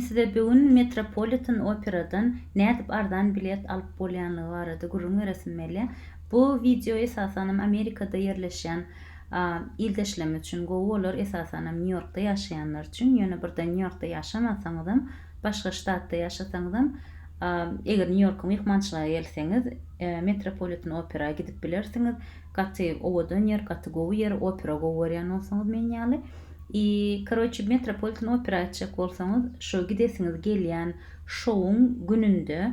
Size bigün Metropolitan Operadan nädip arzan bilet alyp bolýanlygy barada gürrüň beresim belýär. Bu wideo esasanam Amerikada ýerleşýän ildeşlem üçin gowy bolar, esasanam Nýu Ýorkda ýaşaýanlar üçin. Ýöne birden Nýu Ýorkda ýaşamasaňyzam, başga ştatda ýaşasaňyzam, eger Nýu Ýorka myhmançylyga gelseňiz, Metropolitan Opera gidip bilersiňiz. gaty owadan ýer gaty gowy ýer opera gowy görýän bolsaňyz men ýaly i karoçe metropolitan opera aýtjak bolsaňyz şo gidesiňiz gelýän şowuň gününde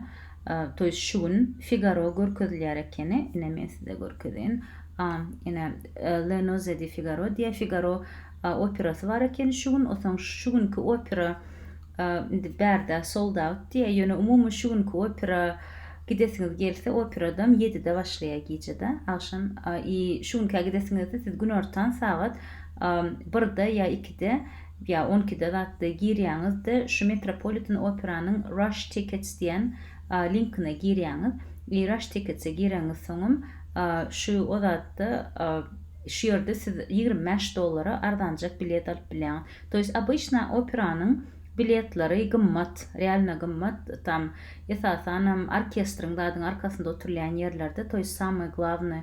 to ýest şu gün figaro görkezilýär ekeni ine men size görkezeýin a ine le noze di figaro diýe figaro operasy bar ekeni şu gün osaň şu günki opera Indi bärde sold-aut diýýä, ýöne umumy şu günki opera gidesiňiz gelse, operadam ýedide başlaýa gijede, agşam i şu günkä gidesiňizde siz günortan sagat birde ýa ikide ýa on ikide zatda girýäňiz-de şu Metropolitan operanyň Rush Tickets diýen linkine girýäňiz i Rush Tickets-e gireňiz soňam şu o zatda şu ýerde siz ýigrimi bäş dollara arzanjak bilet alyp bilýäňiz. To jest obyçna operanyň biletleri gymmat, realno gymmat, tam esasanam orkestriň zadyň arkasynda oturylýan ýerlerde to jest samoý glawnyý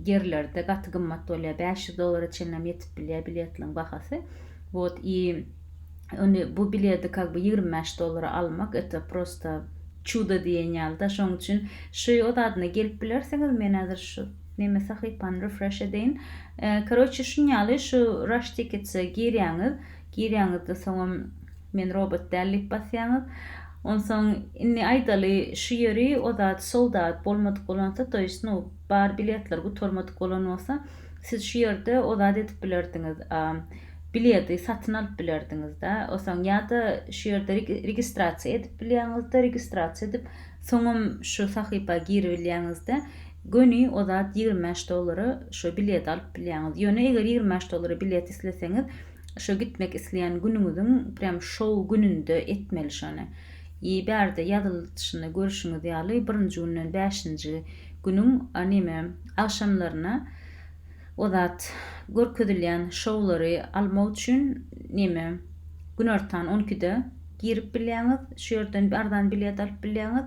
ýerlerde gaty gymmat bolýar, bäş ýüz dollara çenlem ýetip bilýär biletliň bahasy wot i ony bu biledi kak bu ýigrimi bäş dollara almak eto prosto çudo diýen ýalyda şoň üçin şuý o zadyna gelip bilersiňiz men häzir şu Meme sahypany refresh edeýin. Karoçe şunýaly şu rush tickets-e girýäňiz. Girýäňizde soňam men robot däl diýip basýaňyz. Onsoň indi aýdaly şu ýeri o zat sold out bolmadyk bolansa to ýest nu bar biletler gutarmadyk bolan bolsa siz şu ýerde o zat edip bilerdiňiz biledi satyn alyp bilerdiňizda osaň ýada şu ýerde registrasiýa edip bilýäňizde registrasiýa edip soňam şu sahypa giribilýäňizde Göni o zat ýigrimi bäş dollara şo bileti alyp bilýäňiz. Ýöne eger ýigrimi bäş dollara bilet isleseňiz, şo gitmek isleýän günüňiziň prýam şow gününde etmeli şony. I bärde ýazylyşynda görüşiňiz ýaly birinji günden bäşinji günüň a neme agşamlaryna o zat görkezilýän şowlary almak üçin neme günortan on ikide girip bilýäňiz. Şu ýerden arzan bilet alyp bilýäňiz.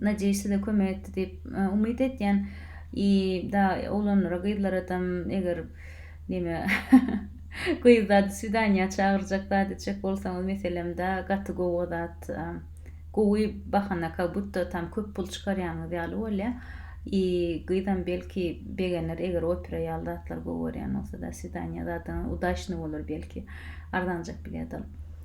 Najeý size kömek etdi diýip umyt etýän i da oglanlara gyzlar adam eger neme gyz zady swidaniýa çagyrjak zat etjek bolsaňyz meselem da gaty gowy zat gowy bahana ka butta tam köp pul çykarýanyz ýaly bolýa i gyzam belki begener eger opera ýaly zatlar gowy görýän bolsa da swidaniýa zadyňyz udaçny bolar belki arzanjak bilet alyp.